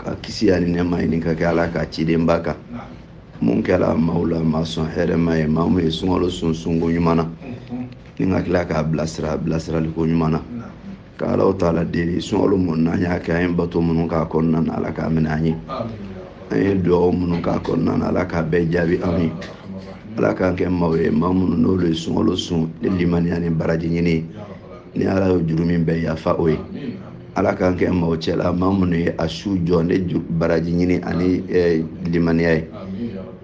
ka kisi ani nɛma ɲini ka kɛ ala ka cidenba kan mun kɛra maaw la maa sɔn hɛrɛma ye maa mun ye sunkalo sun sunko ɲuman na ni ka tila k'a bilasira bilasiraliko ɲuman na ka alahu taala deli sunkalo mun n'an y'a kɛ an ye bato minnu k'a kɔnɔna na ala k'a minɛ an ye an ye dugaw minnu k'a kɔnɔna na ala k'a bɛɛ jaabi an ye ala k'an kɛ maaw ye maa minnu n'olu ye sunkalo sun ni limaniya ni baraji ɲini ni ala ye jurumu bɛɛ yafa o ye ala k'an kɛ maaw cɛla maa minnu ye a su jɔ ni baraji ɲini ani limaniya ye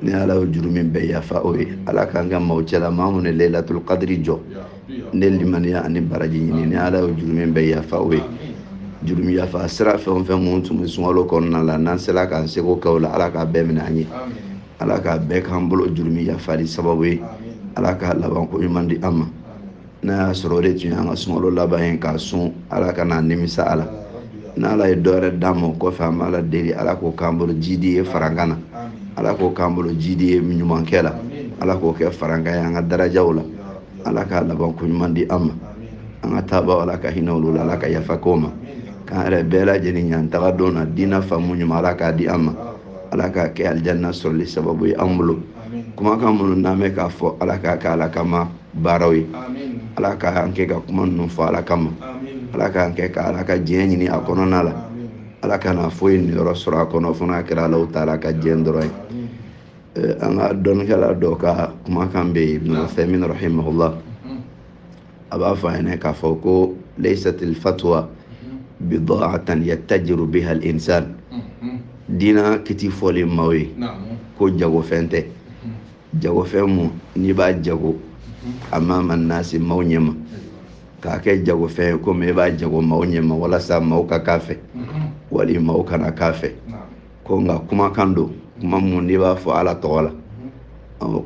ni ala ye jurumu bɛɛ yafa o ye ala k'an kɛ maaw cɛla maa minnu ye layilatul kadiri jɔ ni limaniya ani baraji ɲini ni ala ye jurumu bɛɛ yafa o ye jurumu yafa sira fɛn o fɛn minnu tun bɛ sunkalo kɔnɔna la n'an sera k'an seko kɛ o la ala k'a bɛɛ minɛ an ye ala k'a bɛɛ k'an bolo jurumu yafali sababu ye ala k'a labanko ɲuman di an ma n'a y'a sɔrɔ o de tun y'an ka sunkalo laban ye k'a sun ala kan'an nimisa a la n'ala ye dɔwɛrɛ d'an ma o kɔfɛ an b'ala deli ala k'o k'an bolo jidi ye farankan na ala k'o k'an bolo jidi ye ɲumankɛ la ala k'o kɛ farankan ye an ka darajaw la ala k'a laban ko ɲuman di an ma an ka taabaw ala ka hinɛ olu la ala ka yafa k'o ma k'an yɛrɛ bɛɛ lajɛlen ɲ'an taga don na diinɛ faamu ɲuman ala k'a di an ma ala k'a kɛ alijanna sɔrɔli sababu ye an bolo kumakan minnu n'an bɛ k'a fɔ ala k'a kɛ ala kama baaraw ye ala ka an kɛ ka kuma ninnu fɔ ala kama ala k'an kɛ ka ala ka diɲɛ ɲini a kɔnɔna la ala kana foyi niyɔrɔ sɔrɔ a kɔnɔ fo n'a kɛra alahu taala ka diɲɛ dɔrɔn ye an ka dɔnnikɛla dɔ ka kumakan bɛ yen ibn uthaymin rahimahullah a b'a fɔ an ɲɛna k'a fɔ ko laysatil fatwa bida'atan yattajiru biha al insan diina kiti fɔlen maaw ye ko jagofɛn tɛ jagofɛn mun n'i b'a jago amama nasi maaw ɲɛma k'a kɛ jagofɛn ye komi e b'a jago maaw ɲɛma walasa maaw ka k'a fɛ wali maaw kana k'a fɛ ko nka kumakan don kuma mun n'i b'a fɔ ala tɔgɔ la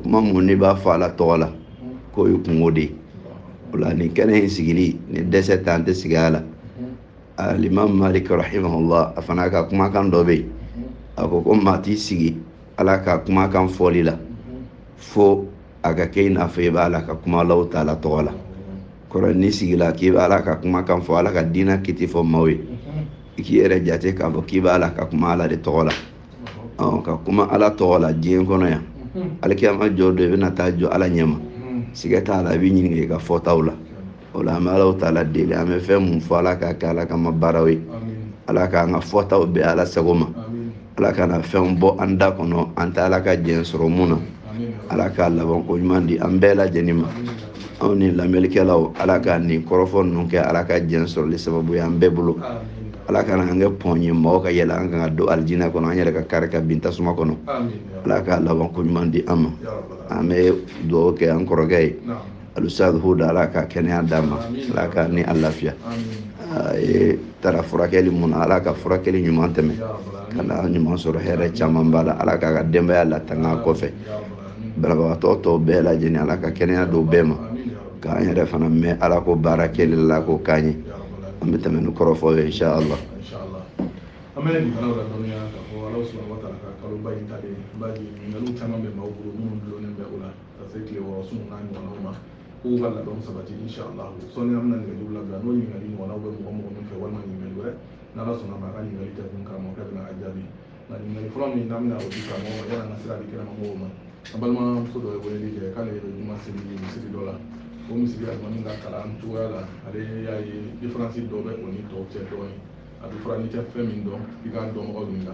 kuma mun n'i b'a fɔ ala tɔgɔ la k'o ye kunko de ye o la nin kɛnɛ in sigili ni dɛsɛ t'an tɛ sigi a la alimami malik rahimahullah a fana ka kumakan dɔ bɛ yen a ko ko maa t'i sigi ala ka kumakan fɔli la fo a ka kɛ i n'a fɔ i b'a la ka kuma alahu taala tɔgɔ la kɔrɔ n'i sigila k'i b'a la ka kumakan fɔ ala ka diina kiti fɔ maaw ye i k'i yɛrɛ jate k'a fɔ k'i b'a la ka kuma ala de tɔgɔ la ka kuma ala tɔgɔ la diɲɛ kɔnɔ yan alikiyama jɔ don i bɛna taa jɔ ala ɲɛma siga t'a la i b'i ɲininka i ka fɔtaw la o la an bɛ alaw taala deli an bɛ fɛn mun fɔ ala k'a kɛ ala kama baaraw ye ala k'an ka fɔtaw bɛn ala sago ma ala kana fɛn bɔ an da kɔnɔ an tɛ ala ka jɛn sɔrɔ mun na ala k'a laban ko ɲuman di an bɛɛ lajɛlen ma anw ni lamɛnnikɛlaw ala ka nin kɔrɔfɔ ninnu kɛ ala ka jɛn sɔrɔli sababu ye an bɛɛ bolo ala kana an kɛ pɔn ye mɔgɔ ka yɛlɛ an kan ka don alijinɛ kɔnɔ an yɛrɛ ka kari ka bin tasuma kɔnɔ ala k'a laban ko ɲuman di an ma an bɛ dugawu kɛ an kɔrɔkɛ ye alusa huda ala ka kɛnɛya d'a ma ala ka ni a lafiya a ye taara furakɛli mun na ala ka furakɛli ɲuman tɛmɛ ka na ɲuman sɔrɔ hɛrɛ caman b'a la ala k'a ka denbaya latanga kɔfɛ banabagatɔ tɔw bɛɛ lajɛlen ala ka kɛnɛya d'u bɛɛ ma k'an yɛrɛ fana mɛn ala ko baara kɛli la k'o k'an ye an bɛ tɛmɛ ni kɔrɔfɔ ye insha allah an bɛ nin fana ladɔnniya k'a fɔ ala subahanahu wa taala ka kaloba in talen ba ɲininkaliw caman bɛ maaw bolo minnu dulonnen bɛ o la ka se tile wɔɔrɔ sun n'a ɲɔgɔnnaw ma k'u ka labɛnw sabati inshallah sɔnni an bɛna nɛgɛjuru labila n'o ɲininkali ɲɔgɔnnaw bɛ mɔgɔ mɔgɔ min fɛ walima ɲininkali wɛrɛ n'ala sɔnna ma a ka ɲininkali tɛ kun karamɔgɔkɛ bɛna a jaabi nka ɲininkali fɔlɔ min n'an bɛna o di karamɔgɔ ma yanni an ka sira di kɛnɛma mɔgɔw ma an balimamuso dɔ ye weleli kɛ k'ale bɛ juma seli misiri dɔ la o misiri alimami ka kalan cogoya la ale y'a ye diferansi dɔ bɛ o ni tɔw cɛ dɔɔnin a bɛ fɔra n'i tɛ fɛn min dɔn i k'a dɔnbagaw ɲininka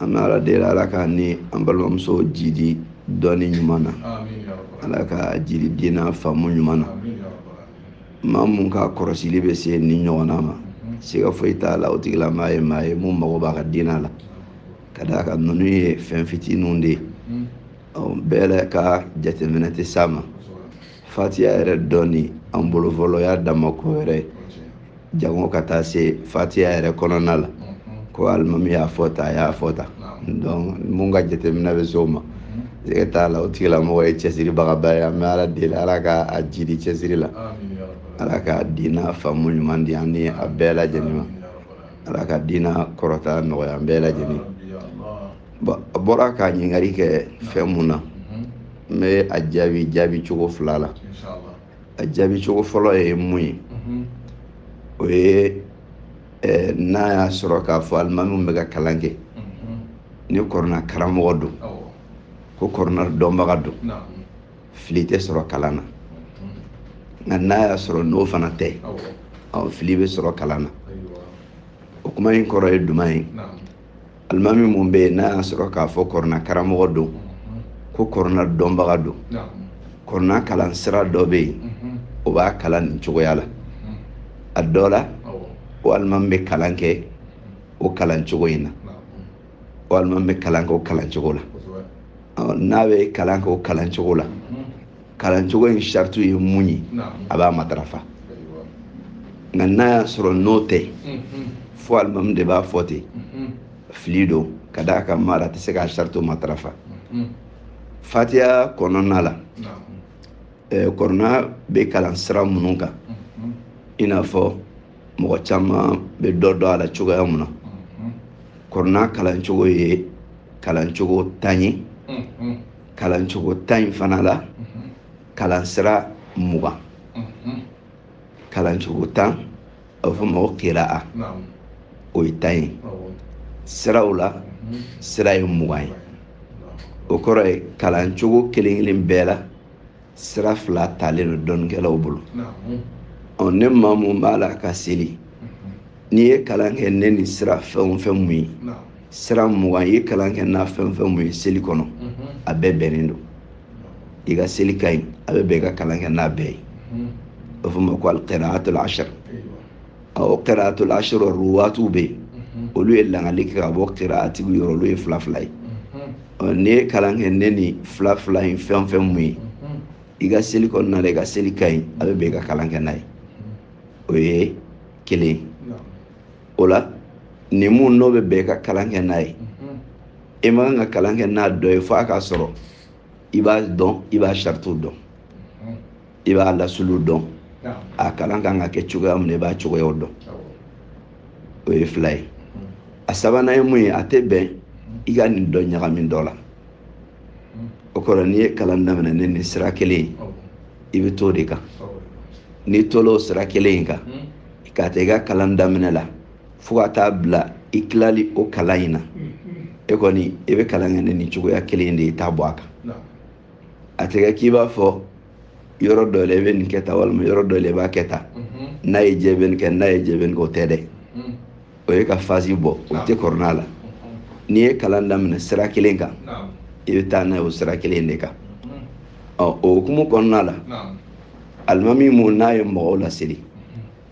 an bɛ ala deli ala k'an ni an balimamuso jidi dɔnni ɲuman na ala k'a jidi diina faamu ɲuman na maa mun ka kɔrɔsili bɛ se nin ɲɔgɔnna ma siga foyi t'a la o tigila maa ye maa ye mun mago b'a ka diina la ka d'a kan ninnu ye fɛn fitininw de ye bɛɛ yɛrɛ ka jateminɛ tɛ s'a ma fatiya yɛrɛ dɔnni an bolo fɔlɔ y'a dama ko yɛrɛ ye jango ka taa se fatiya yɛrɛ kɔnɔna la ko alimami y'a fɔ tan a y'a fɔ tan donc mun ka jateminɛ bɛ se o ma siga t'a la o tigilamɔgɔ ye cɛsiribagaba ye an bɛ ala deli ala ka a jidi cɛsiri la ala ka diina faamu ɲuman di an ni a bɛɛ lajɛlen ma ala ka diina kɔrɔta nɔgɔya an bɛɛ lajɛlen bon a bɔra ka ɲininkali kɛ fɛn mun na n bɛ a jaabi jaabi cogo fila la a jaabi cogo fɔlɔ ye mun ye mhm. o ye eh, n'a y'a sɔrɔ k'a fɔ alimamiw bɛ ka kalan kɛ mhm. ni kɔrɔna karamɔgɔ don ko kɔrɔna dɔnbaga don fili tɛ sɔrɔ kalan na mhm. nka n'a y'a sɔrɔ n'o fana tɛ fili bɛ sɔrɔ kalan na o kuma in kɔrɔ ye jumɛn ye alimami mun bɛ yen n'a y'a sɔrɔ k'a fɔ kɔrɔna karamɔgɔ don ko kɔrɔna dɔnbaga don kɔrɔna kalan sira dɔ bɛ yen o b'a kalan nin cogoya la a dɔ la o alimami bɛ kalan kɛ o kalan cogo in na o alimami bɛ kalan kɛ o kalan cogo la n'a bɛ kalan kɛ o kalan cogo la kalancogo in saritu ye mun ye a b'a matarafa nka n'a y'a sɔrɔ n'o tɛ fo alimami de b'a fɔ ten fili don ka d'a kan maa tɛ se k'a saritu matarafa fatiya kɔnɔna la kɔrɔna bɛ kalan sira minnu kan i n'a fɔ mɔgɔ caman bɛ dɔ dɔn a la cogoya mun na kɔrɔna kalancogo ye kalancogo tan ye kalancogo tan in fana la kalansira mugan kalancogo tan a bɛ fɔ ma ko kira'a o ye tan ye siraw la sira ye mugan ye o kɔrɔ ye kalancogo kelen kelen bɛɛ la sira fila talen don dɔnnikɛlaw bolo ɔ ni maa mun b'a la ka seli n'i ye kalan kɛ ni nin sira fɛn o fɛn mun ye sira mugan i ye kalan kɛ n'a fɛn o fɛn mun ye seli kɔnɔ a bɛɛ bɛnnen don i ka seli ka ɲi a bɛ bɛn i ka kalan kɛ n'a bɛɛ ye o fɔ ma ko alqiraatul ashar o qiraatul ashar ruwaatiw bɛ yen olu ye langali kɛ ka bɔ qiraatigiw yɔrɔ olu ye fila fila ye n'i ye kalan kɛ ni nin fila fila in fɛn o fɛn mun ye i ka seli kɔnɔna la i ka seli ka ɲi a bɛ bɛn i ka kalan kɛ n'a ye o ye kelen o la nin mun n'o bɛ bɛn i ka kalan kɛ n'a ye e man kan ka kalan kɛ n'a dɔ ye fo a k'a sɔrɔ i b'a dɔn i b'a saritiw dɔn i b'a lasulu dɔn a kalan kan ka kɛ cogoya min na i b'a cogoyaw dɔn o ye fila ye a sabanan ye mun ye a tɛ bɛn i ka nin dɔ ɲagami dɔ la o kɔrɔ n'i ye kalan daminɛ ni nin sira kelen ye i bɛ t'o de kan n'i tol'o sira kelen in kan k'a ta i ka kalan daminɛ la fo ka taa bila i tilali o kalan in na e kɔni i bɛ kalan kɛ ni nin cogoya kelen de ye i t'a bɔ a kan a tɛ kɛ k'i b'a fɔ yɔrɔ dɔ la i bɛ nin kɛ tan walima yɔrɔ dɔ la i b'a kɛ tan n'a y'i diya i bɛ nin kɛ n'a y'i diya i bɛ nin kɛ o tɛ dɛ o ye ka fasi bɔ o tɛ kɔrɔna la n'i ye kalan daminɛ sira kelen kan i bɛ taa n'a ye o sira kelen de kan ɔ o hukumu kɔnɔna la alimami mun n'a ye mɔgɔw laseli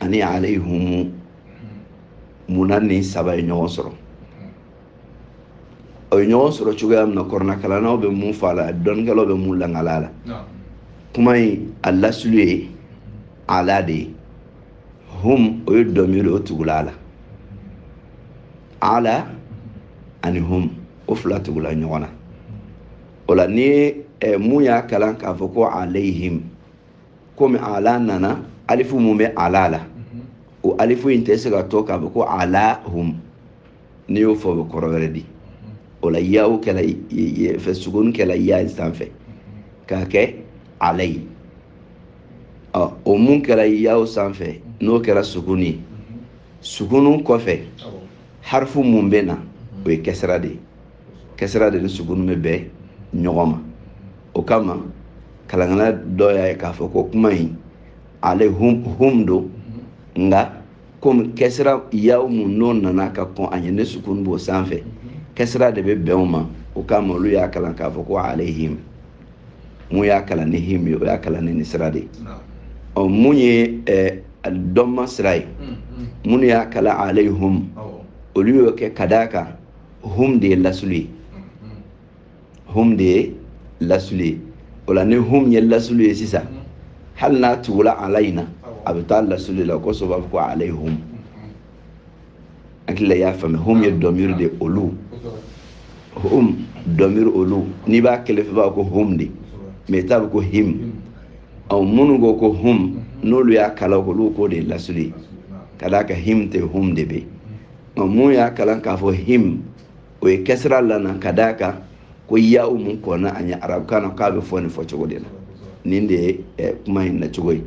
ani alayhumu mun na nin saba ye ɲɔgɔn sɔrɔ o ye ɲɔgɔn sɔrɔ cogoya min na kɔrɔnakalannaw bɛ mun fɔ a la dɔnnikɛlaw bɛ mun langali a la kuma in a lasulu ye ala de ye hum o ye dɔmiri o tugula a la ala ani hum o fila tugula ɲɔgɔn na o la ni mun y'a kalan k'a fɔ ko alayhim komi ala nana alifu mun bɛ ala la o alifu in tɛ se ka to k'a fɔ ko alahum n'i y'o fɔ o bɛ kɔrɔ wɛrɛ di o la yaw kɛla eh sukun kɛla ya in sanfɛ k'a kɛ alayi ɔ o mun kɛra yaw sanfɛ n'o kɛra sukun ye sukun kɔfɛ harifu mun bɛ na o ye kɛsira de ye kɛsira de ni sukun bɛ bɛn ɲɔgɔn ma o kama kalankɛla dɔ y'a ye k'a fɔ ko kuma in alehum hum don nka komi kɛsira yaw mun n'o nana ka kɔn a ɲɛ ni sukun b'o sanfɛ kɛsira de bɛ bɛn o ma o kama olu y'a kalan k'a fɔ ko alehim mun y'a kalan ni him ye o y'a kalan ni nin sira de ye ɔ mun ye eh, dɔnma sira ye minnu y'a kalan alehum olu y'o kɛ ka d'a kan hum de ye lasulu ye hum de ye lasulu ye o la ni hum ye lasulu ye sisan hali n'a tugula ala in na a bɛ taa lasulu la o kosɔn u b'a fɔ ko alehum hakili la i y'a faamuya hum ye dɔmiri de olu hum dɔmiri olu n'i b'a kelen fɔ i b'a fɔ ko hum de mais i t'a fɔ ko him ɔ minnu ko ko hum n'olu y'a kalan olu k'o de ye lasulu ye ka d'a kan him tɛ hum de bɛ yen mun y'a kalan k'a fɔ him o ye kɛsira lana ka d'a kan ko ya mun kɔnna a ɲɛ arabukan na k'a bɛ fɔ nin fɔ cogo de la nin de ye eh, kuma in na cogo ye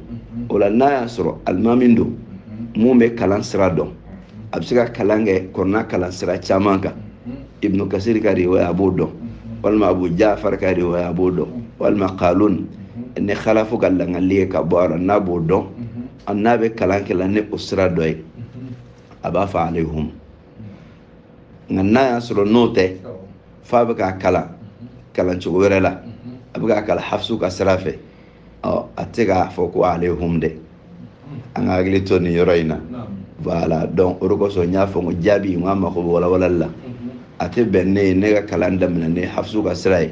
o la n'a y'a sɔrɔ alimami don mun bɛ kalan sira dɔn a bɛ se ka kalan kɛ kurana kalan sira caman kan ibnu kasiri ka riwaya a b'o dɔn walima abu jafar ka riwaya a b'o dɔn walima qalun ni khalafu ka lakali ye ka bɔ a la n'a b'o dɔn n'a bɛ kalan kɛ la ni o sira dɔ ye a b'a fɔ alehum nka n'a y'a sɔrɔ n'o tɛ f'a bɛ k'a kalan kalan cogo wɛrɛ la a bɛ k'a kalan hafisu ka sira fɛ ɔ a tɛ k'a fɔ ko alehum dɛ an ka hakili to nin yɔrɔ in na voilà donc o de kosɔn n y'a fɔ n ko jaabi in k'a mako bɛ walawalali la a tɛ bɛn ne ye ne ka kalan daminɛ ni hafisu ka sira ye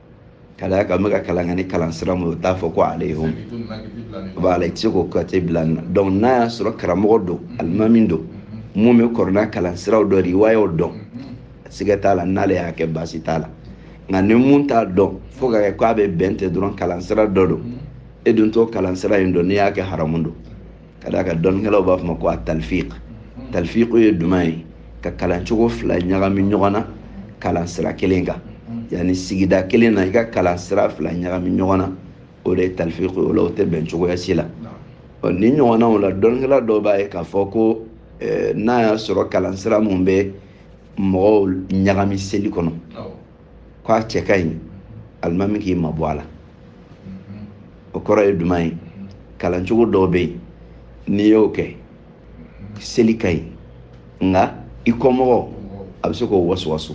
ka d'a kan n bɛ ka kalan kɛ ni kalan sira min ye o t'a fɔ ko alehum b'a la i tɛ se k'o kate bila nin na donc n'a y'a sɔrɔ karamɔgɔ don alimami don mun bɛ kurana kalan siraw dɔn riwayaw dɔn siga t'a la n'ale y'a kɛ baasi t'a la nka ni mun t'a dɔn fo ka kɛ k'a bɛ bɛn tɛ dɔrɔn kalan sira dɔ don e dun t'o kalan sira in dɔn n'i y'a kɛ haramu don ka d'a kan dɔnnikɛlaw b'a fɔ a ma ko a talifiq talifiq ye jumɛn ye ka kalancogo fila ɲagami ɲɔgɔn na kalan sira kelen kan yani sigida kelen na i ka kalan sira fila ɲagami ɲɔgɔn na o de ye talifiq ye o la o tɛ bɛn cogoya si la ɔ nin ɲɔgɔnnaw la dɔnnikɛla dɔw b'a ye k'a fɔ ko n'a y'a sɔrɔ kalan sira mun bɛ mɔgɔw ɲagami seli kɔnɔ k'a cɛ ka ɲi alimami k'i mabɔ a la o kɔrɔ ye jumɛn ye kalancogo dɔw bɛ yen n'i y'o kɛ seli ka ɲi nka i kɔmɔgɔ a bɛ se k'o wasuwasu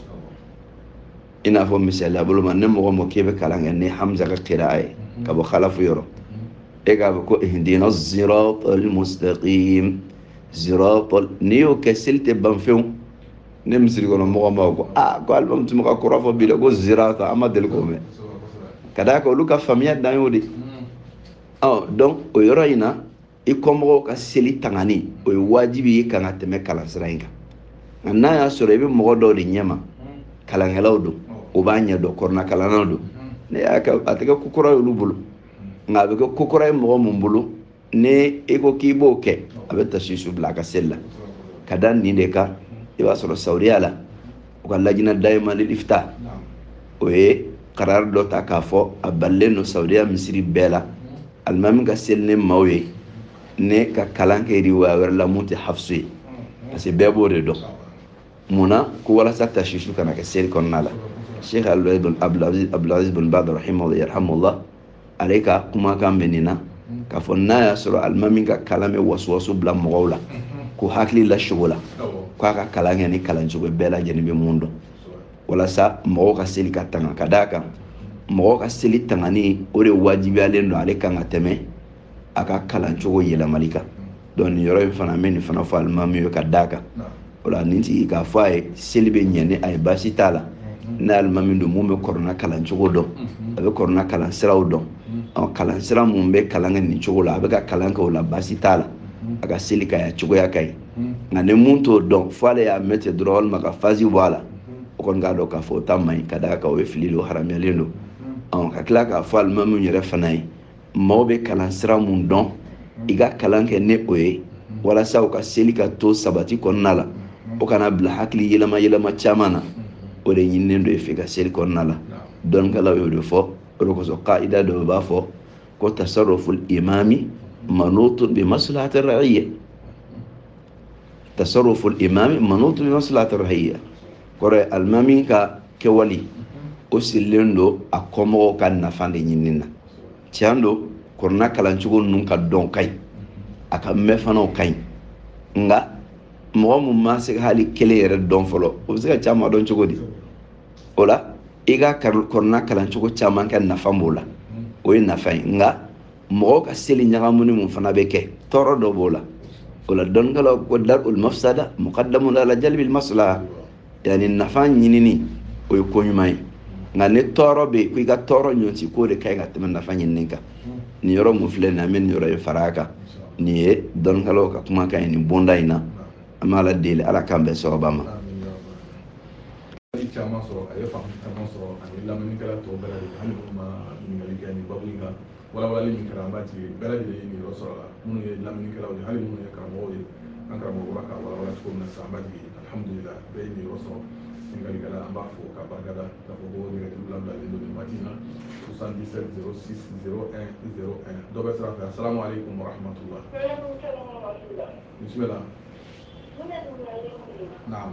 i n'a fɔ misaliya bolo ma ni mɔgɔ min k'e bɛ kalan kɛ ni hamza ka kiraa ye ka bɔ kalafu yɔrɔ e k'a fɔ ko ihdina siratal mustaqim siratal n'i y'o kɛ seli tɛ ban fewu ni misiri kɔnɔ mɔgɔ ma ko aa ko alimamu tun bɛ ka kura fɔ bi dɛ ko zirata an ma deli k'o mɛn ka d'a kan olu ka faamuya dan y'o de ye donc o yɔrɔ in na i kɔmɔgɔw ka seli tangani o ye wajibi y'i kan ka tɛmɛ kalansira in kan nka n'a y'a sɔrɔ i bɛ mɔgɔ dɔw de ɲɛma kalankɛlaw don o b'a ɲɛ dɔn kɔrɔnakalannaw don n'e y'a kɛ a tɛ kɛ ko kura y'olu bolo nka a bɛ kɛ ko kura ye mɔgɔ mun bolo ni e ko k'i b'o kɛ a bɛ tasisu bila a ka seli la ka da nin de kan i b'a sɔrɔ sawudiya la u ka lajna dayima lil ifta o ye karari dɔ ta k'a fɔ a balilen don sawudiya misiri bɛɛ la alimami ka seli ni maaw ye ne ka kalan kɛ riwaya wɛrɛ la mun tɛ hafisu ye parce que bɛɛ b'o de dɔn mun na ko walasa tasisu kana kɛ seli kɔnɔna la sheikh abdulaziz bin baz rahimahullah ale ka kumakan bɛ nin na k'a fɔ n'a y'a sɔrɔ alimami ka kalan bɛ wasuwasu bila mɔgɔw la k'u hakili lasogola k'a ka kalan kɛ ni kalan cogo bɛɛ lajɛlen bɛ mun dɔn walasa mɔgɔw ka seli ka tanga ka d'a kan mɔgɔw ka seli tangani o de wajibiyalen don ale kan ka tɛmɛ a ka kalan cogo yɛlɛmali kan donc nin yɔrɔ in fana n bɛ nin fana fɔ alimami ye ka d'a kan o la nin tigi k'a fɔ a ye seli bɛ ɲɛ ni a ye baasi t'a la mhm. n'alimami don mun bɛ kɔrɔna kalan cogo dɔn mhm. a bɛ kɔrɔna kalan siraw dɔn mhm. kalan sira mun bɛ kalan kɛ nin cogo la a bɛ ka kalan kɛ o la baasi t'a la a ka seli ka ɲi cogoya ka ɲi nka ni mun t'o dɔn fo ale y'a mɛn ten dɔrɔn walima ka fazi bɔ a la o kɔni k'a dɔn k'a fɔ o ta man ɲi ka d'a kan o ye fili don haramuyalen don ka tila k'a fɔ alimamiw yɛrɛ fana ye maaw bɛ kalan sira mun dɔn i ka kalan kɛ ni o ye walasa u ka seli ka to sabati kɔnɔna la o kana bila hakili yɛlɛma yɛlɛma caman na o de ɲininen don e fɛ i ka seli kɔnɔna la dɔnnikɛlaw y'o de fɔ o de kosɔn kaida dɔ u b'a fɔ ko tasaruful imami manutun bi maslahati ra'iyya tasaruful imami manutun bi maslahati ra'iyya kɔrɔ ye alimami ka kɛwali o sirilen don a kɔmɔgɔw ka nafa de ɲinini na tiɲɛ don kɔrɔna kalancogo ninnu k'a dɔn ka ɲi a k'a mɛn fana o ka ɲi nka mɔgɔ min ma se ka hali kelen yɛrɛ dɔn fɔlɔ o bɛ se ka caman dɔn cogo di o la i ka kɔrɔna kalancogo caman kɛ nafa b'o la o ye nafa ye nka mɔgɔw ka seli ɲagamuni mun fana bɛ kɛ tɔɔrɔ dɔ b'o la o la dɔnnikɛlaw ko darul mafsada mukaddamun ala jalbil maslaha yanni nafa ɲinini o ye ko ɲuman ye nka ni tɔɔrɔ bɛ yen ko i ka tɔɔrɔ ɲɔnti k'o de ka ɲi ka tɛmɛ nafa ɲinini kan nin yɔrɔ mun filɛ nin an bɛ nin yɔrɔ in fara a kan nin ye dɔnnikɛlaw ka kumakan ye nin bonda in na an bɛ ala deli ala k'an bɛɛ sɔrɔba ma caman sɔrɔ a ye faamu caman sɔrɔ ani lamɛnnikɛla tɔw bɛɛ lajɛlen hali minnu ma ɲininkali kɛ nin babu in kan walawalali min kɛra an b'a jigi bɛɛ lajɛlen ye niyɔrɔ sɔrɔ la minnu ye lamɛnnikɛlaw ye hali minnu ye karamɔgɔw ye an karamɔgɔ bɔra k'a walawala cogo min na sisan an b'a jigi alhamdulila bɛɛ ye niyɔrɔ sɔrɔ ɲininkalikɛla an b'a fo k'a barika da k'a fɔ ko nɛgɛjuru labilalen don nin waati in na 77 06 01 01 dɔ bɛ sira fɛ asalamu aleykum warahmatula bisimila naam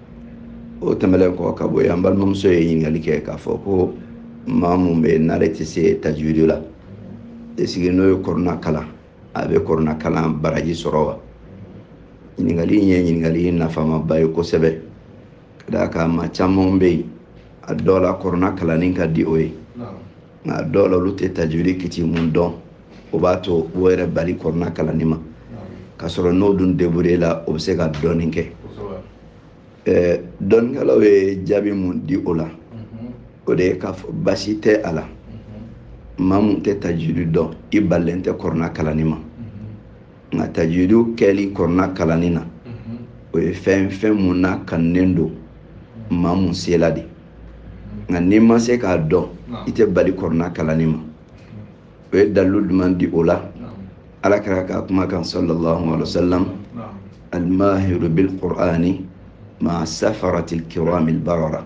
o tɛmɛlen kɔ ka bɔ yen an balimamuso ye ɲininkali kɛ k'a fɔ ko maa mun bɛ n'ale tɛ se tajwidi la esigi n'o ye kɔrɔna kalan a bɛ kɔrɔna kalan baraji sɔrɔ wa ɲininkali in ye ɲininkali nafamaba ye kosɛbɛ ka d'a kan maa caman bɛ yen a dɔw la kɔrɔna kalanni ka di o ye nka dɔw la olu tɛ tajwidi kiti mun dɔn o b'a to o yɛrɛ bali kɔrɔna kalanni ma k'a sɔrɔ n'o dun debure la o bɛ se ka dɔɔnin kɛ eh, dɔnnikɛlaw ye jaabi mun di o la mhm. o de ye k'a fɔ baasi tɛ a la mhm. maa mun tɛ tajwidi dɔn i balilen tɛ kɔrɔna kalanni ma nka tajwidi kɛli kɔrɔna kalanni na o ye fɛn fɛn mun nakanunen don maa mun sela de nka n'i ma se k'a dɔn i tɛ bali kɔrɔna kalanni ma o ye dalilu jumɛn di o la ala kira ka kuma kan sallallahu alaihi wa sallam almahiru bil qur'ani ma'a safaratil kiramil barara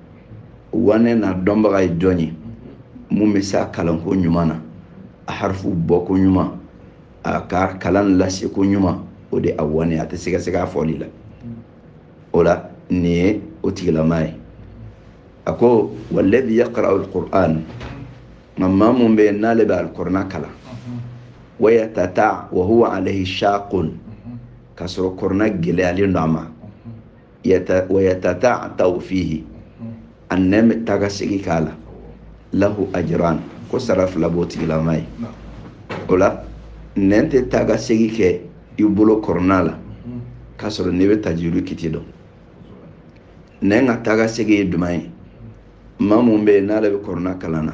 wane n'a dɔnbaga ye jɔn ye mun bɛ se a kalanko ɲuman na a harifu bɔko ɲuman a ka kalan laseko ɲuman o de a wane a tɛ sigasiga a fɔli la o la nin ye o tigilama ye a ko walladhi yaqra'u alquran nka maa mun bɛ yen n'ale bɛ alkurana kalan wayatata wa huwa alayhi shaqun k'a sɔrɔ kurana gɛlɛyalen don a ma yata wa yatata'tau fihi a nɛn bɛ taa ka segin k'a la lahu ajran ko sara fila b'o tigilama ye o la nɛn tɛ taa ka segin kɛ i bolo kɔrɔna la k'a sɔrɔ n'i bɛ tajwidi kiti dɔn nɛn ka taa ka segin ye jumɛn ye maa mun bɛ yen n'ale bɛ kɔrɔna kalan na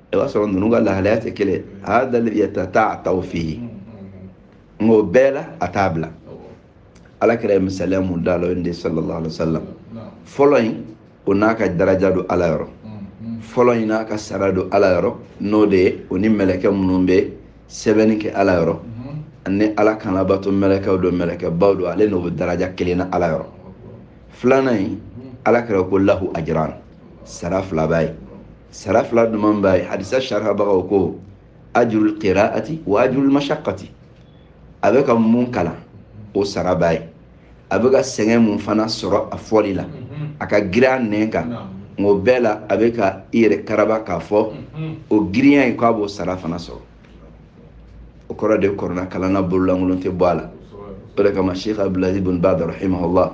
i b'a sɔrɔ ninnu ka lahalaya tɛ kelen hada alladhi yatata'ta'u fihi nka o bɛɛ la a t'a bila ala kira ye misaliya mun da la o de sallallahu alaihi wa sallam fɔlɔ in o n'a ka daraja don ala yɔrɔ fɔlɔ in n'a ka sara don ala yɔrɔ n'o de ye o ni mɛlɛkɛ minnu bɛ sɛbɛnni kɛ ala yɔrɔ ani ala kan labato mɛlɛkɛw don mɛlɛkɛbaw don ale n'o bɛ daraja kelen na ala yɔrɔ filanan in ala kira ko lahu ajiran sara fila b'a ye sara fila duman b'a ye hadisa sharihabagaw ko ajurul qiraati wa ajurul mashaqqati a bɛ ka mun kalan o sara b'a ye a bɛ ka sɛgɛn mun fana sɔrɔ a fɔli la a ka girin a nɛn kan nka o bɛɛ la a bɛ ka i yɛrɛ karaba k'a fɔ o girinya in k'a b'o sara fana sɔrɔ o kɔrɔ de kɔrɔna kalanna bololankolon tɛ bɔ a la o de kama sheikh abdulaziz bin baz rahimahullah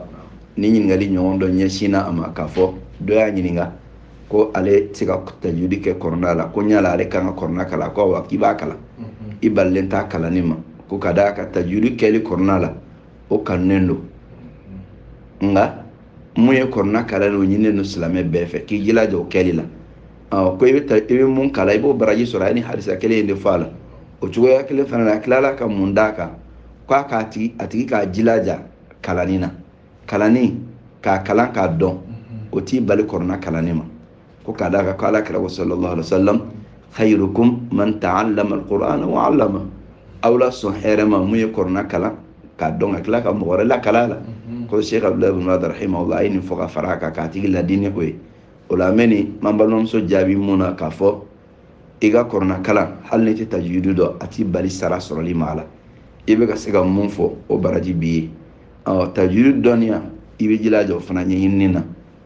ni ɲininkali ɲɔgɔn dɔ ɲɛsinna a ma k'a fɔ dɔ y'a ɲininka ko ale tɛ se ka tajudi kɛ kɔrɔna la ko ɲala ale kan ka kɔrɔna kalan ko awa k'i b'a kalan i balilen t'a kalanni ma ko ka d'a kan tajudi kɛli kɔrɔna la o kanunen don nka mun ye kɔrɔna kalan o ɲininen don silamɛ bɛɛ fɛ k'i jilaja o kɛli la ɔ ko i bɛ ta i bɛ mun kalan i b'o baraji sɔrɔ a ye ni hadisa kelen in de fɔ a la o cogoya kelen fana na a tilala ka mun d'a kan k'a k'a tigi a tigi k'a jilaja kalanni na kalanni k'a kalan k'a dɔn o t'i bali kɔrɔna kalanni ma ko ka d'a kan ko ala kira ko sallallahu alaihi wa sallam khayrukum man ta'allama alqur'ana wa 'allama aw la sɔn hɛrɛ ma mun ye kɔrɔna kalan k'a dɔn ka tila ka mɔgɔ wɛrɛ lakalan a la ko sheikh abdulaziz bin baz rahimahullah a ye nin fɔ ka fara a kan k'a tigi ladini o ye o la an bɛ nin m'an balimamuso jaabi mun na k'a fɔ i ka kɔrɔna kalan hali n'i tɛ tajwidi dɔn a t'i bali sara sɔrɔli ma a la i bɛ ka se ka mun fɔ o baraji b'i ye ɔ tajwidi dɔnniya i b'i jilaja o fana ɲɛɲinini na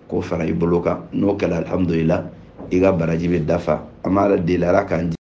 k'o fara i bolo kan n'o kɛra alihamudulila i ka baraji bɛ dafa an b'ala deli ala k'an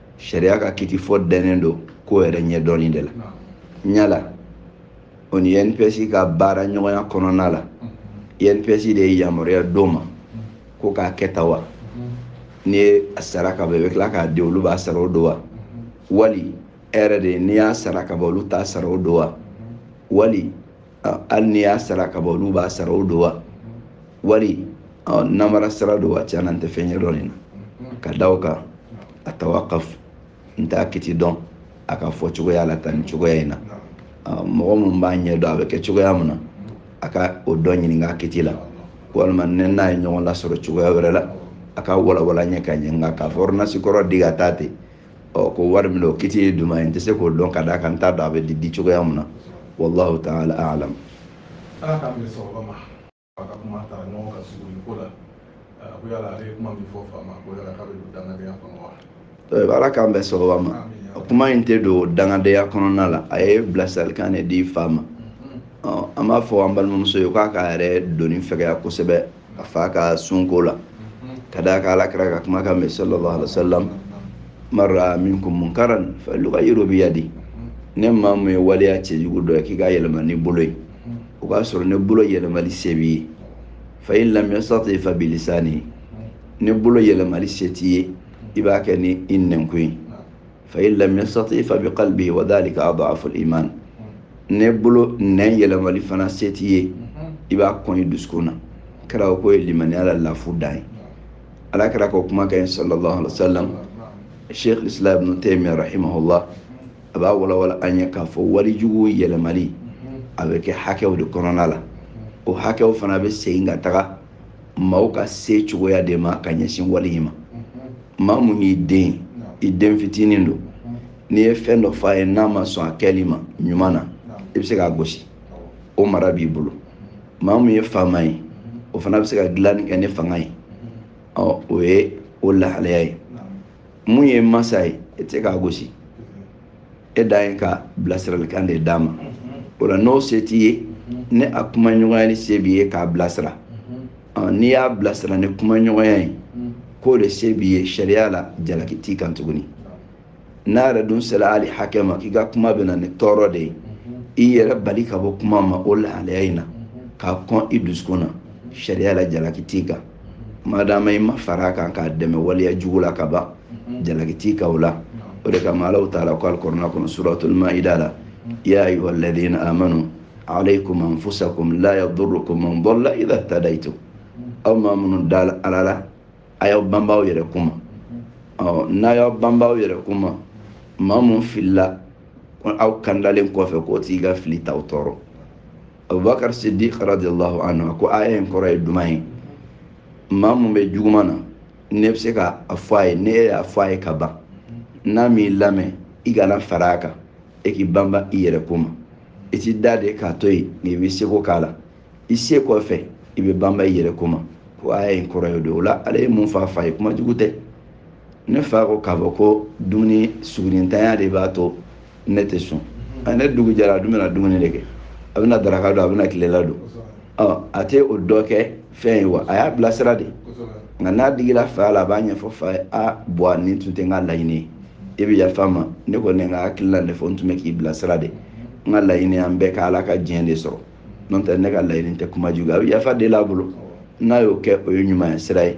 sariya ka kiti fɔ dɛnnen don ko yɛrɛ ɲɛdɔnni de la ɲala o ni nps ka baara ɲɔgɔnya kɔnɔna la nps de ye yamaruya d'o ma ko k'a kɛ tan wa n'i ye a sara ka ban i bɛ tila k'a di olu b'a sara o don wa wali e yɛrɛ de n'i y'a sara ka ban olu t'a sara o don wa wali hali n'i y'a sara ka ban olu b'a sara o don wa wali namara sara don wa tiɲɛna n tɛ fɛn ɲɛdɔn nin na ka da o kan atawakaf n t'a kiti dɔn a ka fɔ cogoya la tan nin cogoya in na mɔgɔ minnu b'a ɲɛ dɔn a bɛ kɛ cogoya min na a ka o dɔ ɲininka a kiti la walima ne n'a ye ɲɔgɔn lasɔrɔ cogoya wɛrɛ la a ka walawala ɲɛ ka ɲɛ nka k'a fɔ ordonnance kɔrɔ di ka taa ten ɔ ko wari min o kiti ye duman ye n tɛ se k'o dɔn ka d'a kan n t'a dɔn a bɛ di di cogoya mun na wallahu taala alam ala k'an bɛɛ sɔrɔba ma a ka kuma tara ɲɔgɔn ka suguri ko la ko yala ale ye kuma min fɔ fa ma ko yala k'a bɛ don dangadenya kɔnɔ wa eh, ala k'an bɛɛ sɔrɔba ma kuma in tɛ don dangadenya kɔnɔna la a ye bilasiralikan de di fa ma mm-hmm. an b'a fɔ an balimamuso ye k'a k'a yɛrɛ doni fɛgɛya kosɛbɛ a fa ka sunko la ka d'a kan ala kira ka kumakan mɛ sallallahu alaihi wasallam man raa minkum munkaran falyughayyiru biyadi ni maa mun ye waleya cɛjugu dɔ ye k'i k'a yɛlɛma n'i bolo ye o b'a sɔrɔ ni bolo yɛlɛmali se b'i ye fa in lam yastati fa bilisani ni bolo yɛlɛmali se t'i ye i b'a kɛ ni i nɛnkun ye fa in lam yastati fa bi qalbi wa dhalika adhafu al iman ni bolo nɛn yɛlɛmali fana se t'i ye i b'a kɔn i dusukun na kira ko o ye limaniya la lafu dan ye ala kira ka kuma kan sallallahu alaihi wasallam sheikh islam ibn taymiyyah rahimahullah a b'a walawala an ye k'a fɔ wale jugu yɛlɛmali a bɛ kɛ hakɛw de kɔnɔna la o hakɛw fana bɛ segin ka taga maaw ka se cogoya de ma ka ɲɛsin wale in ma maa mun y'i den i den fitinin don n'i ye fɛn dɔ f'a ye n'a ma sɔn a kɛli ma ɲuman na i bɛ se k'a gosi o mara b'i bolo maa mun ye faama ye o fana bɛ se ka dilanni kɛ ni fanga ye o ye o lahalaya ye mun y'i masa ye i tɛ se k'a gosi e dan ye ka bilasiralikan de d'a ma o la n'o se t'i ye ni a kuma ɲɔgɔnya ni se b'i ye k'a bilasira n'i y'a bilasira ni kuma ɲɔgɔnya ye k'o de se b'i ye sariya la jalaki t'i kan tuguni n'a yɛrɛ dun sera hali hakɛ ma k'i ka kuma bɛ na ni tɔɔrɔ de ye i yɛrɛ bali ka bɔ kuma ma o lahalaya in na k'a kɔn i dusukun na sariya la jalaki t'i kan madama i ma far'a kan k'a dɛmɛ waleya jugu la ka ban jalaki t'i kan o la o de kama alahu taala ko alikuranɛ kɔnɔ suratul maida la ya ayuha alladina amanu alaykum anfusakum la yadurukum man dalla idha tadaytum aw maa minnu da ala la a y'aw banba aw yɛrɛ ko ma ɔ n'a y'aw banba aw yɛrɛ ko ma maa mun filila aw kandalen kɔfɛ k'o tigi ka fili t'aw tɔɔrɔ abubakar siddiq radiallahu anhu a ko aya in kɔrɔ ye duman ye maa mun bɛ juguman na n'i bɛ se ka a fɔ a ye n'i y'a fɔ a ye ka ban n'a m'i lamɛn i kana fara a kan e k'i banba i yɛrɛ ko ma i t'i da de k'a to yen n'i b'i seko k'a la i se kɔfɛ i b'i banba i yɛrɛ ko ma ko aya in kɔrɔ ye o de ye o la ale ye mun fɔ a fa ye kuma jugu tɛ ne fa ko k'a fɔ ko dumuni sugurintanya de b'a to ne tɛ sun a ni dugu jɛra a dun bɛna dumuni de kɛ a bɛna daraka dun a bɛna tilela dun ɔ a tɛ o dɔ kɛ fɛn ye wa a y'a bilasira de nka n'a digila fa la a b'a ɲɛfɔ fa ye a bɔn a nin tun tɛ n ka laɲini ye e bɛ yafa n ma ne kɔni n ka hakilila de fɔ n tun bɛ k'i bilasira de n ka laɲini an bɛɛ ka ala ka diɲɛ de sɔrɔ n'o tɛ ne ka laɲini tɛ kuma jugu a bɛ yafa deli a bolo n'a y'o kɛ o ye ɲumanya sira ye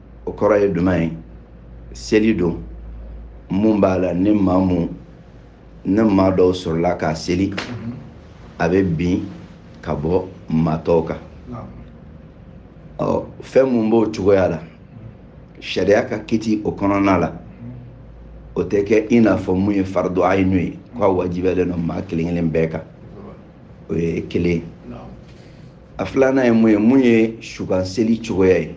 o kɔrɔ ye jumɛn ye seli don mun b'a la ni maa mun ni maa dɔw sɔrɔla k'a seli mhm. a bɛ bin ka bɔ maa tɔw kan ɔ fɛn mun b'o cogoya la sariya ka kiti o kɔnɔna la mhm. o tɛ kɛ i n'a fɔ mun ye faridu ayinu ye k'a wajibiyalen don maa kelen kelen bɛɛ kan o ye kelen a filanan ye mun ye mun ye sukan seli cogoya ye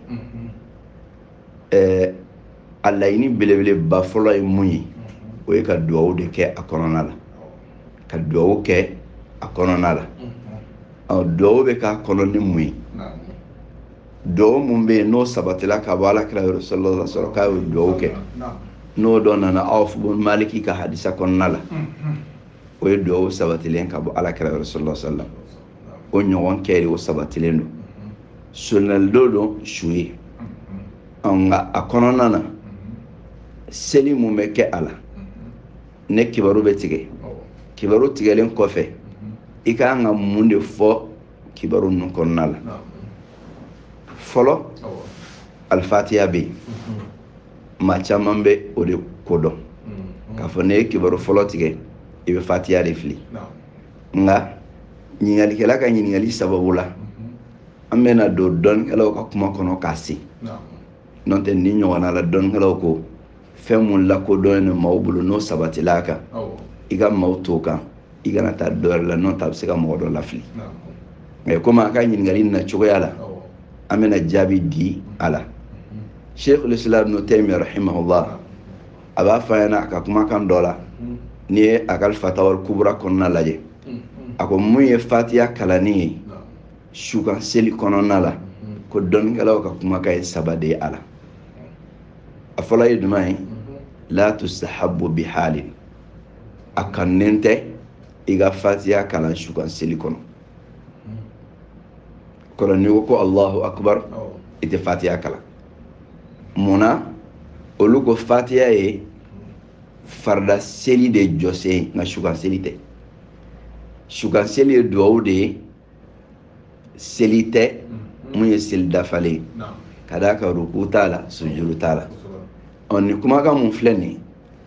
ɛɛ a laɲini belebeleba fɔlɔ ye mun ye o ye ka duwawu de kɛ a kɔnɔna la ka duwawu kɛ a kɔnɔna la ɔ duwawu bɛ k'a kɔnɔ ni mun ye duwawu mun bɛ yen n'o sabatila ka bɔ alakira yɔrɔ sallallahu alaihi wasallam k'a ye duwawu kɛ n'o dɔ nana awf ibn maliki ka hadisa kɔnɔna la o ye duwawu sabatilen ka bɔ alakira yɔrɔ sallallahu alaihi wasallam o ɲɔgɔn kɛ de o sabatilen don sunnali don su ye nka a kɔnɔna na seli mun bɛ kɛ a la ni kibaru bɛ tigɛ kibaru tigɛlen kɔfɛ i ka kan ka mun de fɔ kibaru ninnu kɔnɔna la fɔlɔ alifatiya bɛ yen maa caman bɛ o de kodɔn k'a fɔ n'i ye kibaru fɔlɔ tigɛ i bɛ fatiya de fili nka ɲininkalikɛla ka ɲininkali sababu la an bɛna don dɔnnikɛlaw ka kuma kɔnɔ k'a se n'o tɛ nin ɲɔgɔnna la dɔnnikɛlaw ko fɛn mun lakodɔnnen don maaw bolo n'o sabatila a kan i ka maaw t'o kan i kana taa dɔ wɛrɛ la n'o tɛ a bɛ se ka mɔgɔ dɔ lafili nka komi a ka ɲininkali na cogoya la an bɛna jaabi di a la sheikhul islam ibn taymiyyah rahimahullah a b'a fɔ an ɲɛna a ka kumakan dɔ la n'i ye a ka fatawal kubura kɔnɔna lajɛ a ko mun ye fatiya kalanni ye sukan seli kɔnɔna la ko dɔnnikɛlaw ka kumakan ye saba de ye a la a fɔlɔ ye jumɛn ye la tustahabbu bihalin a kanunen tɛ i ka fatiya kalan sukan seli kɔnɔ kɔrɔ n'i ko ko allahu akbar i tɛ fatiya kalan mun na olu ko fatiya ye farida seli de jɔsen ye nka sukan seli tɛ sukan seli ye duwawu de ye seli tɛ mm-hmm. mun ye seli dafalen ye ka d'a kan ruku t'a la sujuru t'a la ɔ nin kumakan mun filɛ nin ye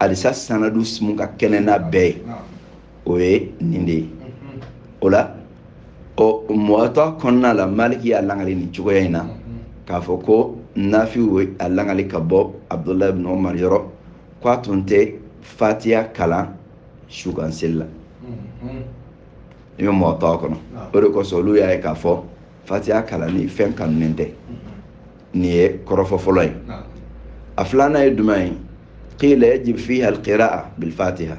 hadisa sanadu mun ka kɛnɛ n'a bɛɛ ye o ye nin de ye o la ɔ muwata kɔnɔna la maliki y'a langali nin cogoya in na k'a fɔ ko nafi a langali ka bɔ abdullah ibn umar yɔrɔ ko a tun tɛ fatiya kalan sukanseli la i bɛ muwata kɔnɔ o de kosɔn olu y'a ye k'a fɔ fatiya kalanni fɛn kanunen tɛ nin ye kɔrɔfɔ fɔlɔ ye a filanan ye jumɛn ye qila yajib fiha alqiraa bilfatiha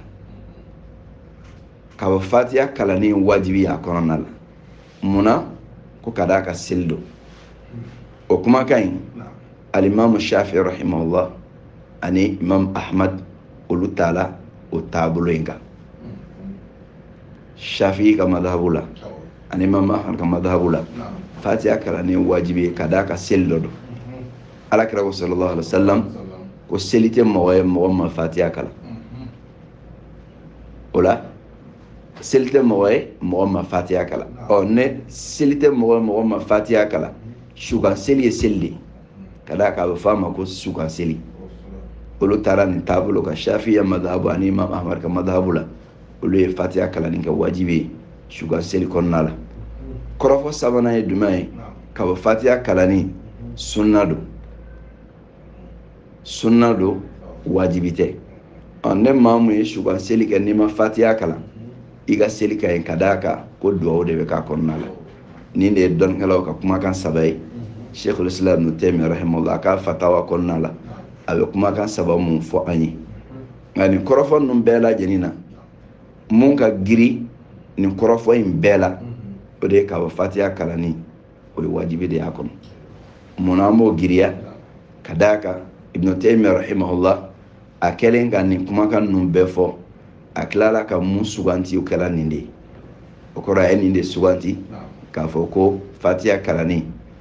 k'a fɔ fatiya kalanni wajibi y'a kɔnɔna la mun na ko ka d'a kan seli don o kumakan in alimamu shafi rahimahullah ani imam ahmad olu taala o taabolo in kan shafi ka madhabu la ani imam ahmad ka madhabu la fatiha kalanni ye wajibi ye ka d'a kan seli dɔ don ala kira ko sallallahu alaihi wasallam ko seli tɛ mɔgɔ ye mɔgɔ ma fatiha kalan o la seli tɛ mɔgɔ ye mɔgɔ ma fatiha kalan ɔ ni seli tɛ mɔgɔ ye mɔgɔ ma fatiha kalan sukan seli ye seli de ye ka d'a kan a bɛ fɔ a ma ko sukan seli olu taara nin taabolo kan shafiya madhabu ani imam ahmad ka madhabu la olu ye fatiya kalanni kɛ wajibi ye sukan seli kɔnɔna la kɔrɔfɔ sabanan ye jumɛn ye k'a fɔ fatiya kalanni sunna don sunna don wajibi tɛ ɔ ni maa mun ye sukan seli kɛ n'i ma fatiya kalan i ka seli ka ɲi ka d'a kan ko duwawu de bɛ k'a kɔnɔna la nin de ye dɔnnikɛlaw ka kumakan saba ye sheikhul islam ibn taymiyyah rahimahullah a ka fatawa kɔnɔna la a bɛ kumakan saba mun fɔ an ye nka nin kɔrɔfɔ ninnu bɛɛ lajɛlen na mun ka girin nin kɔrɔfɔ in bɛɛ la o de ye k'a fɔ fatiya kalanni o ye wajibi de y'a kɔnɔ mun na an b'o giriya ka d'a kan ibnu taymiya rahimahullah a kɛlen ka nin kumakan ninnu bɛɛ fɔ a tilala ka mun suganti o kɛla nin de ye o kɔrɔ a ye nin de suganti k'a fɔ ko fatiya kalanni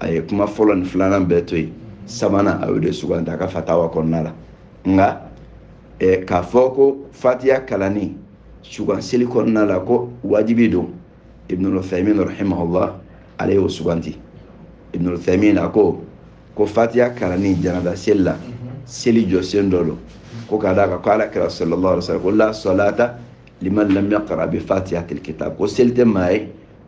a ye kuma fɔlɔ ni filanan bɛɛ to yen sabanan a y'o de sugandi a ka fatawa kɔnɔna la nka eh, k'a fɔ ko fatiya kalanni sukanseli kɔnɔna la ko wajibi don ibnul uthaymin rahimahullah ale y'o sugandi ibnul uthaymin a ko ko fatiya kalanni janaza seli la seli jɔsen dɔ don ko ka d'a kan ko ala kira sallallahu alaihi wasallam ko la salata liman lam yaqra bi fatihatil kitab ko seli tɛ maa ye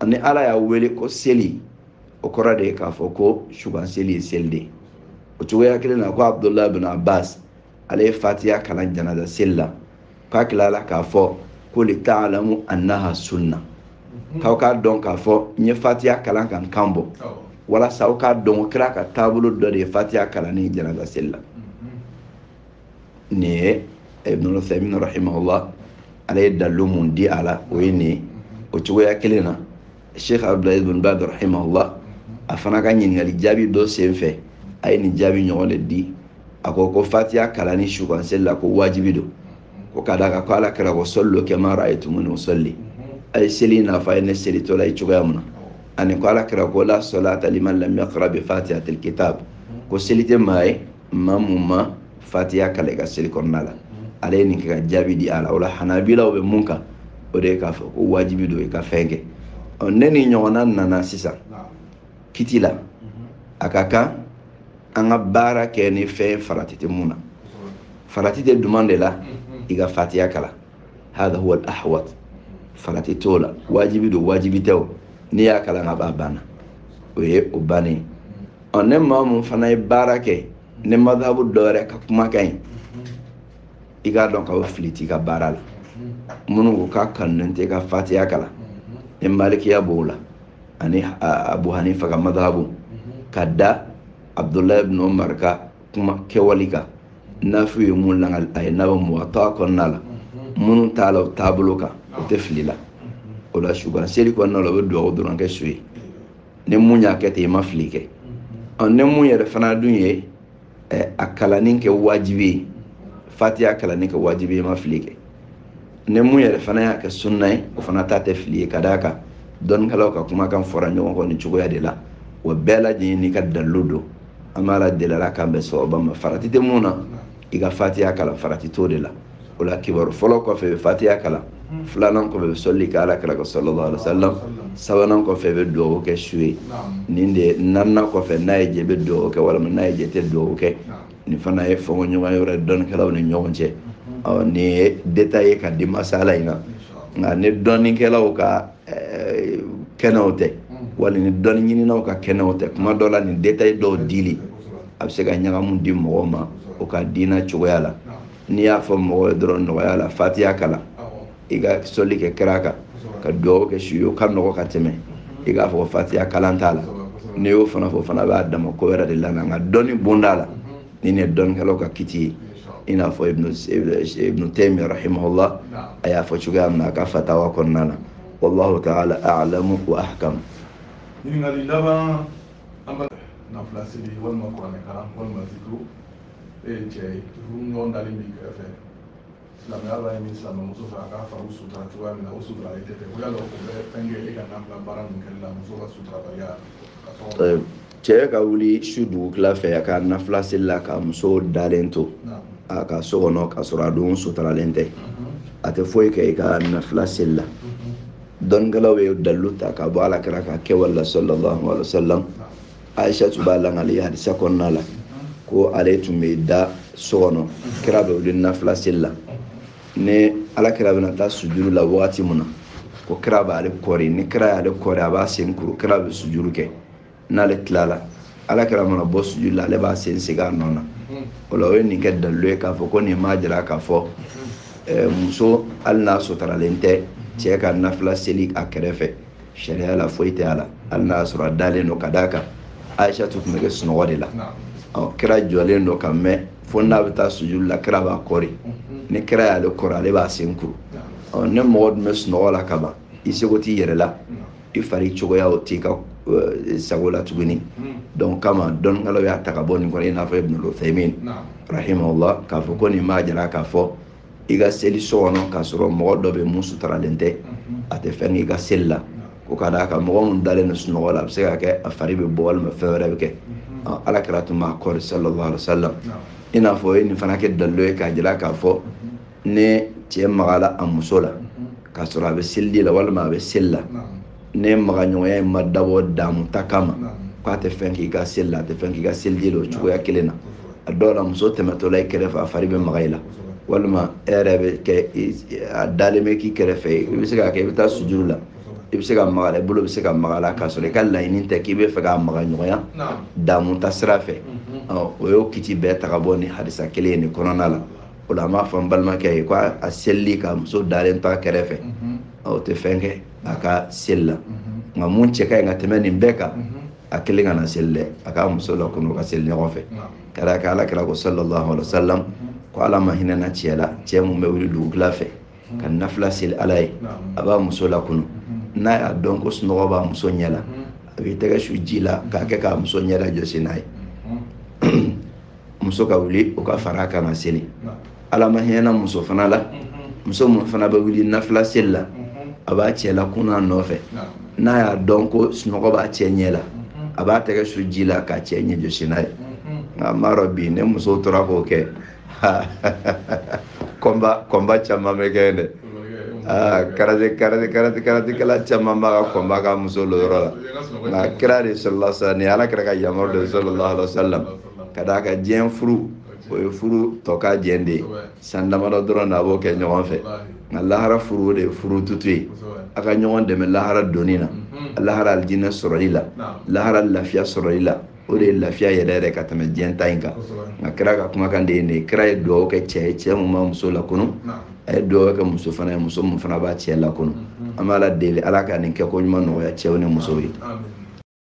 ani ala y'a wele ko seli o kɔrɔ de ye k'a fɔ ko su kan seli ye seli de ye o cogoya kelen na ko abudulayi bin abbas ale ye fatiya kalan janaza seli la k'a tilala k'a fɔ ko li taalamu annaha sunna k'aw k'a dɔn k'a fɔ n ye fatiya kalan ka n kan bɔ walasa aw k'a dɔn ko kira ka taabolo dɔ de ye fatiya kalanni janaza seli la nin ye ibnul uthaymin rahimahullah ale ye dalilu mun di a la o ye nin ye o cogoya kelen na sheikh abdulaziz ibn baz rahimahullah a fana ka ɲininkali jaabi dɔ sen fɛ a ye nin jaabi ɲɔgɔn de di a ko ko fatiya kalanni sukanseli la ko wajibi don ko ka d'a kan ko ala kira ko sɔllu kama ra'aytumuni usɔlli a ye seli n'a fɔ a ye ne selitɔla ye cogoya mun na ani ko ala kira ko la sɔlata liman lam yaqra bi fatihatil kitab ko seli tɛ maa ye maa mun ma fatiya kalan i ka seli kɔnɔna la ale ye nin kɛ ka jaabi di a la o la hanabilaw bɛ mun kan o de ye k'a fɔ ko wajibi don i ka fɛn kɛ ɔ ni nin ɲɔgɔnna nana sisan kiti la a ka kan an ka baara kɛ ni fɛn farati tɛ mun na farati tɛ jumɛn de la i ka fatiya kalan hada huwa al ahwat farati t'o la wajibi don wajibi tɛ o n'i y'a kalan kaban a banna o ye o bannen ɔ ni maa mun fana ye baara kɛ ni madhabu dɔ wɛrɛ ka kumakan ye i k'a dɔn k'a fɔ fili t'i ka baara la minnu ko k'a kanunen tɛ ka fatiya kalan ni malikiya b'o la ani abu hanifa ka madhabu ka da abdulayi ibn umar ka kuma kɛwali kan nafi ye mun lakali a ye n'a bɛ muwatta kɔnɔna la minnu taala o taabolo kan o tɛ fili la o la su kan seli kɔnɔna la o bɛ dugawu dɔrɔn kɛ su ye ni mun y'a kɛ ten i ma fili kɛ ɔ ni mun yɛrɛ fana dun ye a kalanni kɛ wajibi ye fatiya kalanni kɛ wajibi ye i ma fili kɛ ni mun yɛrɛ fana y'a kɛ sunna ye o fana ta tɛ fili ye ka d'a kan dɔnnikɛlaw ka kumakan fɔra ɲɔgɔn kɔ nin cogoya de la wa bɛɛ lajɛlen n'i ka dalilu don an b'ala deli ala k'an bɛn sawaba ma farati tɛ mun na i ka fatiya kalan farati t'o de la o la kabaru fɔlɔ kɔfɛ i bɛ fatiya kalan filanan kɔfɛ i bɛ sɔli kɛ ala kira kan sallallahu alaihi wasallam sabanan kɔfɛ i bɛ dugawu kɛ su ye nin de naaninan kɔfɛ n'a y'i diya i bɛ dugawu kɛ walima n'a y'i diya i tɛ dugawu kɛ nin fana ye fɔɲɔgɔnkɔ yɔrɔ ye dɔnnikɛlaw ni ɲɔgɔn cɛ ɔ nin ye détail ye ka di masala in na nka ni dɔnnikɛlaw ka eh, kɛnɛw tɛ wali ni dɔnni ɲininaw ka kɛnɛw tɛ kuma dɔ la nin détail dɔw dili a bɛ se ka ɲagamu di mɔgɔw ma o ka diina cogoya la n'i y'a fɔ mɔgɔ ye dɔrɔn nɔgɔya la fatiya kalan i ka sɔli kɛ kira kan ka dugawu kɛ su ye o ka nɔgɔ ka tɛmɛ i k'a fɔ fatiya kalan t'a la n'i y'o fana fɔ o fana b'a dama ko wɛrɛ de la nka dɔnni bonda la nin ye dɔnnikɛlaw ka kiti ye i n'a fɔ ibnu taymi rahimahullah a y'a fɔ cogoya min na a ka fatawa kɔnɔna na wallahu taala alamu wa ahkam ɲininkali laban an bɛ nafila seli walima kuranɛ kalan walima zikiri e jɛɲɔgɔn dalen b'i kɛrɛfɛ silamɛya b'a ɲini silamɛmuso fɛ a k'a fari sutura cogoya min na o suturalen tɛ ko yala o bɛ fɛn kɛ e ka nafila baara ninnu kɛli la muso ka suturabaliya ka sɔrɔ cɛ ka wuli su dugutila fɛ a ka nafila seli la ka muso dalen to a ka so kɔnɔ k'a sɔrɔ a dun suturalen tɛ a tɛ foyi kɛ i ka nafila seli la dɔnnikɛlaw ye dalilu ta ka bɔ ala kira ka kɛwale la sallallahu alaihi wa sallam aisha tun b'a lakali hadisa kɔnɔna la ko ale tun bɛ da so kɔnɔ kira bɛ wuli nafila seli la ni ala kira bɛna taa sujuru la wagati min na ko kira b'ale kɔri ni kira y'ale kɔri a b'a sen kuru kira bɛ sujuru kɛ n'ale tilala ala kira mana bɔ sujuru la ale b'a sen segin a nɔ na o la u ye nin kɛ dalilu ye k'a fɔ ko nin b'a jira k'a fɔ eh, muso hali n'a suturalen tɛ cɛ ka nafila seli a kɛrɛfɛ sariya la foyi tɛ a la hali n'a y'a sɔrɔ a dalen don ka d'a kan aisha tun bɛ kɛ sunɔgɔ de la kira jɔlen don ka mɛn fo n'a bɛ taa sujuru la kira b'a kɔri ni kira y'ale kɔri ale b'a sen kuru ni mɔgɔ dun bɛ sunɔgɔ la ka ban i seko t'i yɛrɛ la i fari cogoya o t'i ka sago la tuguni donc o kama dɔnnikɛlaw y'a ta ka bɔ nin kɔnɔ i n'a fɔ ibn Uthaymin rahimahullah k'a fɔ ko nin b'a jira k'a fɔ i ka seli so kɔnɔ k'a sɔrɔ mɔgɔ dɔ bɛ mun suturalen tɛ a tɛ fɛn k'i ka seli la ko ka d'a kan mɔgɔ min dalen don sunɔgɔ la a bɛ se ka kɛ a fari bɛ bɔ walima fɛn wɛrɛ bɛ kɛ ala kira tun b'a kɔri sallallahu alaihi wa sallam i n'a fɔ u ye nin fana kɛ dalilu ye k'a jira k'a fɔ ni cɛ magala a muso la k'a sɔrɔ a bɛ seliji la walima a bɛ seli la ni magaɲɔgɔnya in ma dabɔ damu ta kama k'a tɛ fɛn k'i ka seli la a tɛ fɛn k'i ka seliji la o cogoya kelen na a dɔw la muso tɛmɛtɔ la i kɛrɛfɛ a fari bɛ maga i la walima e yɛrɛ bɛ kɛ a dalen bɛ k'i kɛrɛfɛ a bɛ se ka kɛ i bɛ taa sujuru la i bɛ se ka maga a la i bolo bɛ se ka maga a la k'a sɔrɔ i ka laɲini tɛ k'i b'a fɛ ka magaɲɔgɔnya damu ta sira fɛ u y'o kiti bɛɛ ta ka bɔ nin hadisa kelen ye nin kɔnɔna la o la an b'a fɔ n balimakɛ ye ko a selili ka muso dalen to a kɛrɛfɛ o tɛ fɛn kɛ a ka seli la nka mun cɛ ka ɲi ka tɛmɛ nin bɛɛ kan a kelen kana seli dɛ a k'a muso lakunu u ka seli ɲɔgɔn fɛ ka d'a kan ala kira ko sallallahu alaihi wasallam ko ala ma hinɛna cɛ la cɛ mun bɛ wuli dugutila fɛ ka nafila seli ala ye a b'a muso lakunu n'a y'a dɔn ko sunɔgɔ b'a muso ɲɛ la a b'i tɛgɛ su ji la k'a kɛ k'a muso ɲɛ la jɔsi n'a ye muso ka wuli o ka fara kan ka seli ala ma hinɛna muso fana la muso mun fana bɛ wuli nafila seli la a b'a cɛ lakunu a nɔfɛ n'a y'a dɔn ko sunɔgɔ b'a cɛ ɲɛ la a b'a tɛgɛ su ji la k'a cɛ ɲɛ jɔsi n'a ye nka n b'a dɔn bi ni muso tora k'o kɛ kɔnba kɔnba caman bɛ kɛ dɛ Ah, karate karate karate karatekɛla caman b'a ka kɔnba kɛ muso l'o yɔrɔ la nka kira de sallallahu alaihi wasallam ni ala kira ka yamaru de sallallahu alaihi wasallam ka d'a kan diɲɛ furu o ye furu tɔkajɛ de ye san damadɔ dɔrɔn na a b'o kɛ ɲɔgɔn fɛ nka lahara furu o de ye furu tutu ye a ka ɲɔgɔn dɛmɛ lahara donni na lahara alijinɛ sɔrɔli la lahara lafiya sɔrɔli la o de ye lafiya yɛrɛ yɛrɛ ka tɛmɛ diɲɛ ta in kan nka kira ka kumakan de ye nin ye kira ye dugawu kɛ cɛ ye cɛ mun b'a muso lakunu a ye dugawu kɛ muso fana ye muso mun fana b'a cɛ lakunu an b'ala deli ala ka nin kɛko ɲuman nɔgɔya cɛw ni musow ye